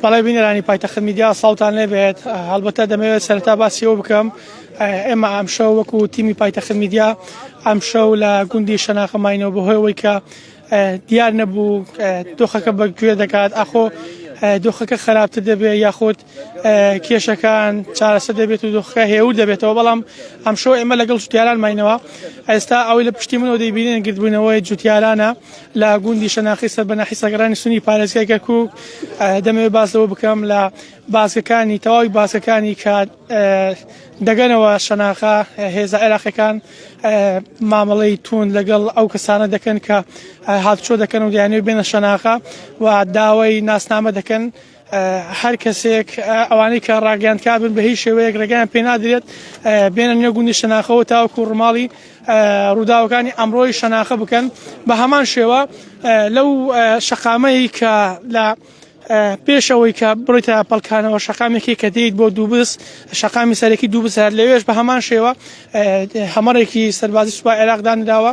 بەڵێ بینەرانی پایتەخت میدیا ساڵتان لێبێت هەڵبەتە دەمەوێت سەرتا باسیەوە بکەم ئێمە ئەمشە وەکو تیمی پایتەخت میدیا ئەمشە و لە گوندی شەناخەماینەوە بەهۆیەوەی کە دیار نەبوو دۆخەکە بەگوێ دەکات ئاخۆ دۆخەکە خراپتر دەبێت یاخود کێشەکان چارەسە دەبێت و دۆخەکە هێور دەبێتەوە بەڵام ئەمشۆ ئێمە لەگەڵ جوتیاران ماینەوە ئێستا ئەوەی لە پشتی منەوە دەیبینێن گردبوونەوەی جوتیارانە لە گوندی شەناخی سەر بەناحی سەگرانی سنی پارێزگای کەرکک دەمەوێت باس لەوە بکەم لە باسەکانی تەواوی باسەکانی کە دەگەنەوە شەناخە هێزە عێراقەکان مامەڵەی تون لەگەڵ ئەو کەسانە دەکەن کە هاتچۆ دەکەن و دیانێ بێنە شەناخە و داوای ناسنامە دەکەن هەر کەسێک ئەوانەی کە ڕاگەیاندکار بن بە هیچ شێوەیەک ڕێگەیان پێ نادرێت بێنە نوێ گوندی شەناخەوە تاوەکو ڕماڵی ڕووداوەکانی ئەمڕۆی شەناخە بکەن بە هەمان شێوە لەو شەقامەی کە لە پێشەوەی کە بڕیتە پەلکانەوە شەقامێکی کە دێیت بۆ دووبس شەقامی سەرەکی دووبس هەر لەوێش بە هەمان شێوە هەمەڕێکی سەربازی سوپای عێراقدانراوە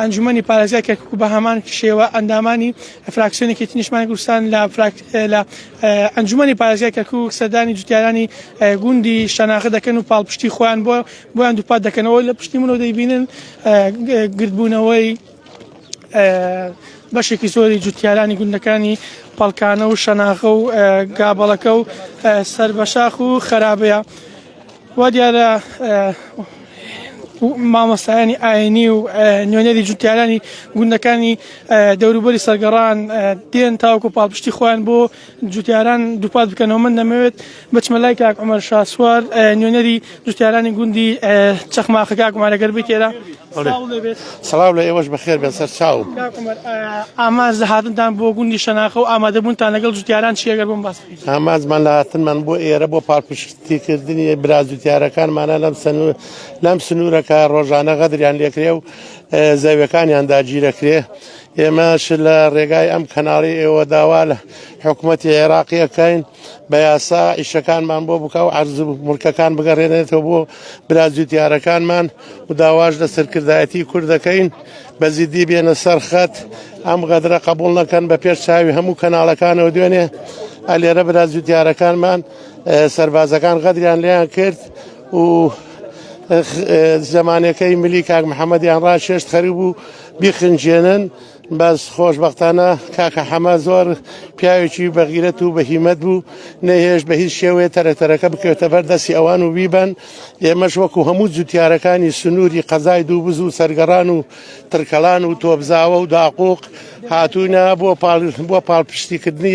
ئەنجومەنی پارێزگای کەرکوک و بەهەمان شێوە ئەندامانی فراکسیۆنی یەکێتی نیشتمانی کوردستان لە فراک... لە ئەنجومەنی پارێزگای کەرکوک سەردانی جوتیارانی گوندی شەناخە دەکەن و پاڵپشتی خۆیان بۆ بۆیان دووپات دەکەنەوە لە پشتی منەوە دەیبینن گردبوونەوەی بەشێکی زۆری جوتیارانی گوندەکانی پەڵکانە و شەناخە و گابەڵەکە و سەر بە شاخ و خەرابەیە وا دیارە مامۆستایانی ئاینی و نوێنەری جوتیارانی گوندەکانی دەوروبەری سەرگەڕان دێن تاوکو پاڵپشتی خۆیان بۆ جوتیاران دووپات بکەنەوە من دەمەوێت بچمە لای کاک عمر شاسوار نوێنەری جوتیارانی گوندی چەخماخە کاک مارەگەر بکێرە سلااو لە ئێوەش بەخێر بێن سەر چاو ئاماز لە هاتنتان بۆ گوندی شەناخە و ئامادەبوونتان لەگەڵ جوتیاران چیەگەر بم باس ئامازمان لە هاتنمان بۆ ئێرە بۆ پاڵپشت تیکردنی برازوتیارەکان مانە لەم سنوور لەم سنوورەکە ڕۆژانە غەدریان لێکرێ و زەویەکانیان داگیرەکرێ ئێمەش لە ڕێگای ئەم کەناڵی ئێوە داوا لە حکوومەتی عێراقیەکەین بە یاسا ئیشەکانمان بۆ بکە و عرز و ملکەکان بگەڕێنێتەوە بۆ برازوتیارەکانمان و داواش لە سەرکردایەتی کورد دەکەین بە زیدی بێنە سەرخەت ئەم غەدرە قبول نەکەن بە پێش چاوی هەموو کەناڵەکانەوە دوێنێ ئەلێرە برازوتیارەکانمان سەربازەکان غەدریان لێیان کرد و زمانەکەی ملی کاک محەممەدیان ڕاشێشت خەری بوو بیخنجێنن بەس خۆشببختانە کاکە حەمە زۆر پیاوێکی بەغیرەت و بەهیمەت بوو نەهێش بە هیچ شێوەیە تەرەتەرەکە بکەوتە بەر دەستی ئەوان و بیبن ئێمەش وەکو هەموو جوتیارەکانی سنووری قەزای دوو بز و سەرگەڕان و ترکەلان و تۆبزاوە و داقوق هاتوونە بۆ پاڵ بۆ پاڵپشتیکردنی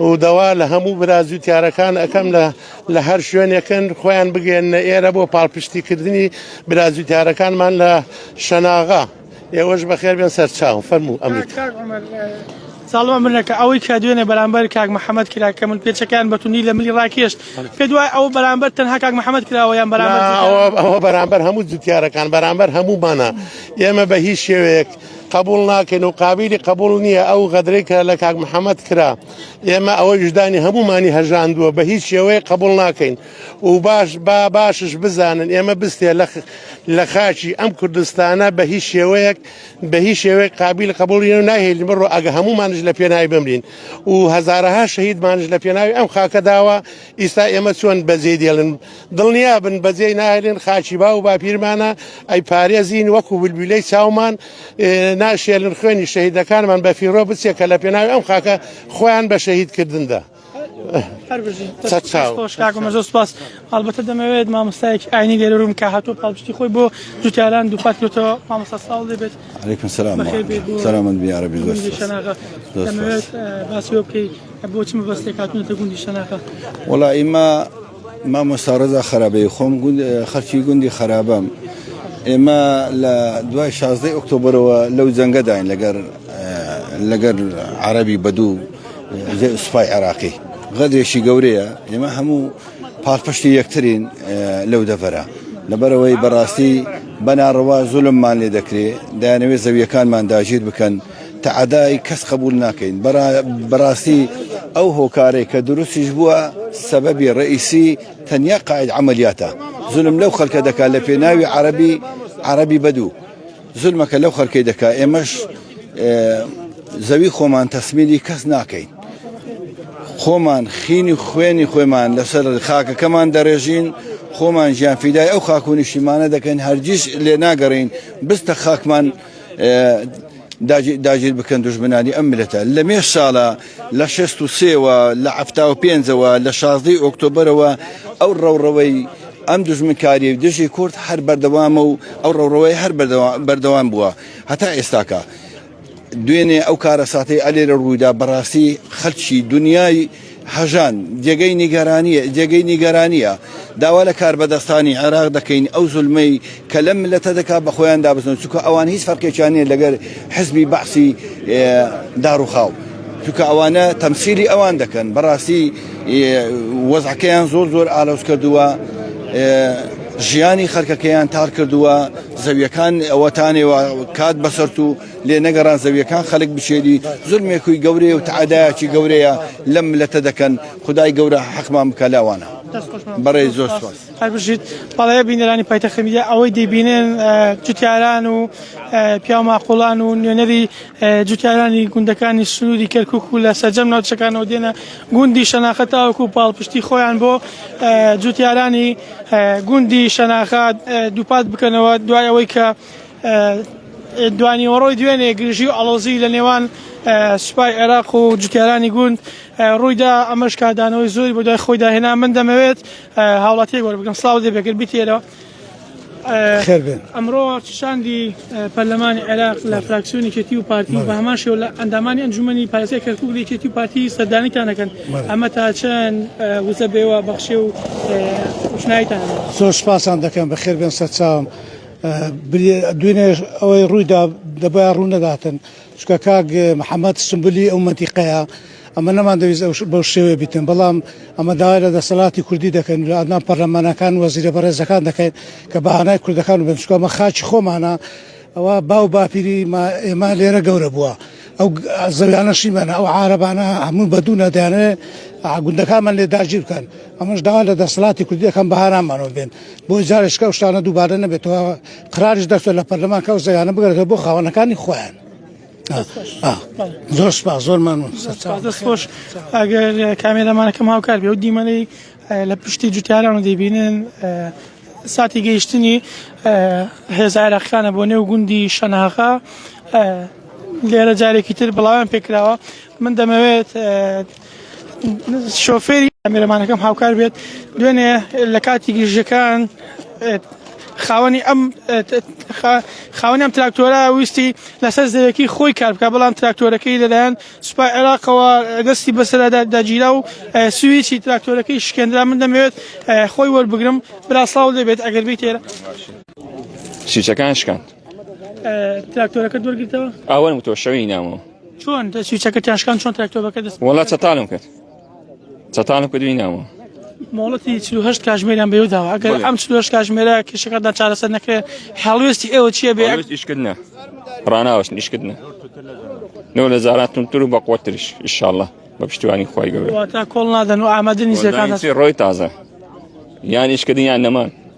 و داوا لە هەموو برا جووتیارەکان ئەکەم لە لە هەر شوێنێکن خۆیان بگەێنە ئێرە بۆ پاڵپشتیکردنی برا جووتیارەکانمان لە شەناغا ئێوەش بەخێر بێن سەرچاو فەرموو ئەم ساڵمان منەکە ئەوەی کە دوێنێ بەرامبەر کاک محەممەد کرا کە من پێچەکان بەتونی لە ملی ڕاکێشت پێ دوای ئەو بەرامبەر تەنها کاک محەممەد کراوە یان بەرامبەر ئەوە بەرامبەر هەموو جوتیارەکان بەرامبەر هەموومانە ئێمە بە هیچ شێوەیەک قبوڵ ناکەین و قابیلی قبوڵ نییە ئەو غەدرەی کە لە کاک محەممەد کرا ئێمە ئەوەی وژدانی هەمومانی هەژاندووە بە هیچ شێوەیە قبوڵ ناکەین و باش با باشش بزانن ئێمە بستێ لە لە خاچی ئەم کوردستانە بە هیچ شێوەیەک بە هیچ شێوەیە قابل قبولی و ناهێنین بڕۆ ئەگە هەمومانش لە پێناوی بمرین و هەزارەها شەهیدمانش لە پێناوی ئەم خاکەداوە ئیستا ئێمە چۆن بەجێی دێڵن دڵنیا بن بەجێی ناهێلن خاکی باو باپیرمانە ئەی پارێزین وەکو بلبیلەی چاومان ناشێلن خوێنی شەهیدەکانمان بە فیڕۆ بچێ کە لە پێناوی ئەم خاکە خۆیان بە شەهید کردندا. زۆر سپاس هەڵبەتە دەمەوێت مامۆستایەکی ئاینی لێرە روم کە هاتۆ پاڵپشتی خۆی بۆ جوتیاران دووپات کرێتەوە مامۆستا ساڵ دەبێت سلامەت بیارە باسی بکەیت بۆ چ مەبەستێک هاتوونەتە گوندی شەناخە؟ وەڵا ئیمە مامۆستا ڕەزا خەرابەی خۆم خەرکی گوندی خەرابەم ئێمە لە دوای شازدەی ئۆکتۆبرەوە لەو جەنگەداین لەگەر لەگەر عربی بەدوو سوپای عێراقی غەدرێکی گەورەیە ئێمە هەموو پاڵپشتی یەکترین لەو دەڤەرە لەبەرەوەی بەڕاستی بەناڕەوا زولممان لێ دەکرێت دایانەوێت زەویەکانمان داژیر بکەن تەعەدای کەس قەبوول ناکەین بەڕاستی ئەو هۆکارەی کە دروستیش بووە سەبەبی ڕەئیسی تەنیا قائد عەمەلیاتە زولم لەو خەلکە دەکا لە پێناوی عەرەبی عەرەبی بەدوو زولمەکە لەو خەلکەی دەکا ئێمەش زەوی خۆمان تەسمیلی کەس ناکەین خۆمان خینی خوێنی خۆمان لەسەر خاکەکەمان دەڕێژین خۆمان ژیان فیدای ئەو خاکو نیشتیمانە دەکەین هەرگیز لێ ناگەڕین بستە خاکمان داگیر بکەن دوژمنانی ئەم ملەتە لە مێ ساڵە لە شست و سێوە لە عفتا و پێنجەوە لە شازدەی ئۆکتۆبرەوە ئەو ڕەوڕەوەی ئەم دژمنکاری دژی کورد هەر بەردەوامە و ئەو ڕەوڕەوەی هەر بەردەوام بووە هەتا ئێستاکە دوێنێ ئەو کارە ساتەی ئەلێرە ڕوویدا بەڕاستی خەلکی دنیای هەژان، جێگەی نیگەرانییە، جێگەی نیگەرانییە. داوا لە کاربەدەستانی عێراق دەکەین ئەو زولمەی کە لەم میللەتە دەکات بە خۆیان دابەزن، چونکە ئەوان هیچ فەرقێکیان نییە لەگەر حزبی بەعسی داڕوخاو، چونکە ئەوانە تەمسیلی ئەوان دەکەن، بەڕاستی وەزعەکەیان زۆر زۆر ئالۆز کردووە، ژیانی خەلکەکەیان تار کردووە، زەویەکان ئەوەتانێ کات بەسەرتوو. لێ نەگەڕان زەویەکان خەلک بچێنی زولمێکوی گەورەیە و تەعادایەکی گەورەیە لەم ملەتە دەکەن خدای گەورە حەقمان بکە لاوانە بەڕێ زۆر سپاس هەر بژیت بەڵێ بینەرانی پایتەخت میدیا ئەوەی دەبینن جوتیاران و پیاو ماقۆڵان و نوێنەری جوتیارانی گوندەکانی سنووری کەرکک و لە سەرجەم ناوچەکانەوە دێنە گوندی شەناخە تاوەکو و پاڵپشتی خۆیان بۆ جوتیارانی گوندی شەناخە دووپات بکەنەوە دوای ئەوەی کە دوانیوەڕۆی دوێنێ گرژی و ئەڵۆزی لە نێوان سوپای عێراق و جوتیارانی گوند ڕوویدا ئەمەش کادانەوەی زۆری بۆ دوای خۆی داهێنا من دەمەوێت هاوڵاتی گۆر بگەم سلااو دێ بێگر بیتێرەوە ئەمڕۆ شاندی پەرلەمانی عێراق لە فراکسیۆنی کێتی و پارتی بە هەمان شێو لە ئەندامانی ئەنجومی پارێزگای کەرکک لە کێتی و پارتی سەردانیتانەکەن ئەمە تا چەند وزە بێوە بەخشێ و شنایتان زۆر سپاسان دەکەم بە خێربێن سەرچاوم. بلی دوینێش ئەوەی ڕوویدا دەبا ڕوو نەداتن چکە کاک محەممەد سمبلی ئەو مەنتیقەیە ئەمە نەمان دەویست بەو شێوێ بیتن بەڵام ئەمە داوای لە دەسەڵاتی کوردی دەکەن لە ئەدنان پەرلەمانەکان وەزیرە بەڕێزەکان دەکەین کە بەهانای کوردەکان بنچکۆمە خاچی خۆمانە ئەوە باو باپیری ئێمە لێرە گەورە بووە ئەو زەویانە شیمەنە ئەو عارەبانە هەموو بەدوونە دەیانێ گوندەکانمان لێ داگیر بکەن ئەمەش داوا لە دەسەڵاتی کوردی دەکەم بەهارامانەوە بێن بۆی جارێکشکە ئەو شتانە دووبارە نەبێتەوە قراریش دەرچێت لە پەرلەمانکە ئەو زەویانە بگەرێتەوە بۆ خاوەنەکانی خۆیان زۆر سپاس زۆر مەمنون دەست خۆش ئەگەر کامێرەمانەکەم هاوکار بێ و دیمەنەی لە پشتی جوتیاران و دەیبینن ساتی گەیشتنی هێزە عێراقییانە بۆ نێو گوندی شەناغا لێرە جارێکی تر بڵاویان پێکراوە من دەمەوێت شۆفێری ئەمێرەمانەکەم هاوکار بێت دوێنێ لە کاتی گرژەکان خاوەنی ئەم خاوەنی ئەم تراکتۆرە ویستی لەسەر زەویەکەی خۆی کار بکە بەڵام تراکتۆرەکەی لەلایەن سوپای عێراقەوە دەستی بەسەرادا داگیرا و سویچی تراکتۆرەکەی شکێندرا من دەمەوێت خۆی وەربگرم برا سڵاو لێبێت ئەگەر بیت ئێرە سویچەکان شکاند تراکتۆرەکە دوەرگرتەوە ئەوەن تۆ شەوی نامەوە چۆن سویچەکە تاشکان چۆن تراکتۆرەکە دەست وڵات چەتانم کرد چەتانە کردوی ناوە مۆڵەتی 48 کاژمێریان بەێو داوە ئەگەر ئەم 48 کاژمێرە کێشەکەدا چارەسەر نەکرێت هەڵوێستی ئێوە چیە بێ ئیشکردە ڕناوەش نیشکردە نۆ لە زاراتونتر و بەقوترش ئیشاءله بە پشتیوانی خۆی گەورە تا کۆڵ نادەن و ئامادە نیزەکان ڕۆی تازە یان ئیشکردن یان نەمان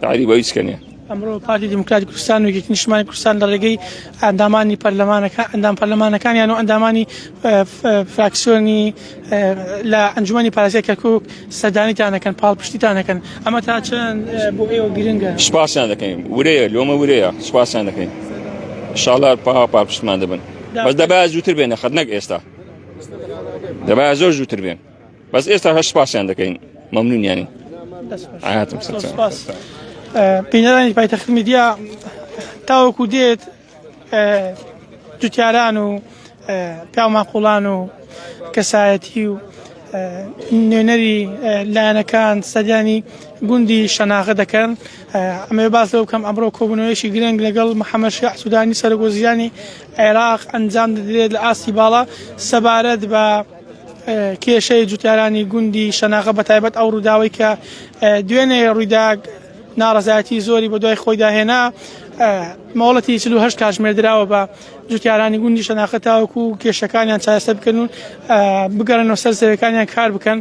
تعریب هیچ کنێ ئەمڕۆ پارتی دیموکراتی کوردستان و یەکێتی نیشتمانی کوردستان لە ڕێگەی ئەندامانی پەرلەمانەکە ئەندام پەرلەمانەکانیان و ئەندامانی فراکسیۆنی لە ئەنجومی پارێزگای کەرکک سەردانیتان دەکەن پاڵپشتیتان دەکەن ئەمە تا چەند بۆ ئێوە گرنگە سپاسیان دەکەین ورەیە لۆمە ورەیە سپاسیان دەکەین شاڵا پا پاپشتمان دەبن بەس دەبا زووتر بێنە خەت نەک ئێستا دەبا زۆر زووتر بێن بەس ئێستا هەر سپاسیان دەکەین مەمنونیانی ئاهاتم سپاس بینەرانی پایتەخت میدیا تاوەکو دێت جوتیاران و پیاماقلان و کەسایەتی و نوێنەری لایەنەکان سەدیانی گوندی شەناغە دەکەن ئەمە باز لەو کەم ئەمڕۆ کۆبنەوەیشی گرنگ لەگەڵ محەممەد شیع سوودانی سەرگۆزیانی عێراق ئەنجام دەدرێت لە ئاستی باڵا سەبارەت بە کێشەی جوتیارانی گوندی شەناغە بە تایبەت ئەو ڕووداوی کە دوێنێ ڕوویدا ناڕزایەتی زۆری بە دوای خۆیدا هێنا مۆڵەتی 48 کاتژمێر دراوە بە جوتیارانی گوندی شەناخە تاوەکو و کێشەکانیان چارەسەر بکەن و بگەڕنەوە سەر زەوەکانیان کار بکەن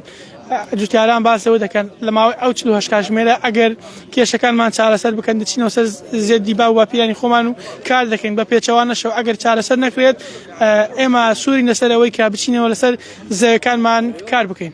جوتیاران باسەوە دەکەن لە ماوەی ئەو 48 کاتژمێرە ئەگەر کێشەکانمان چارەسەر بکەن دچینەوە سەر زێدی با و باپیرانی خۆمان و کار دەکەین بە پێچەوانەشەوە ئەگەر چارەسەر نەکرێت ئێمە سوورین لەسەر ئەوەی کە بچینەوە لەسەر زەویەکانمان کار بکەین.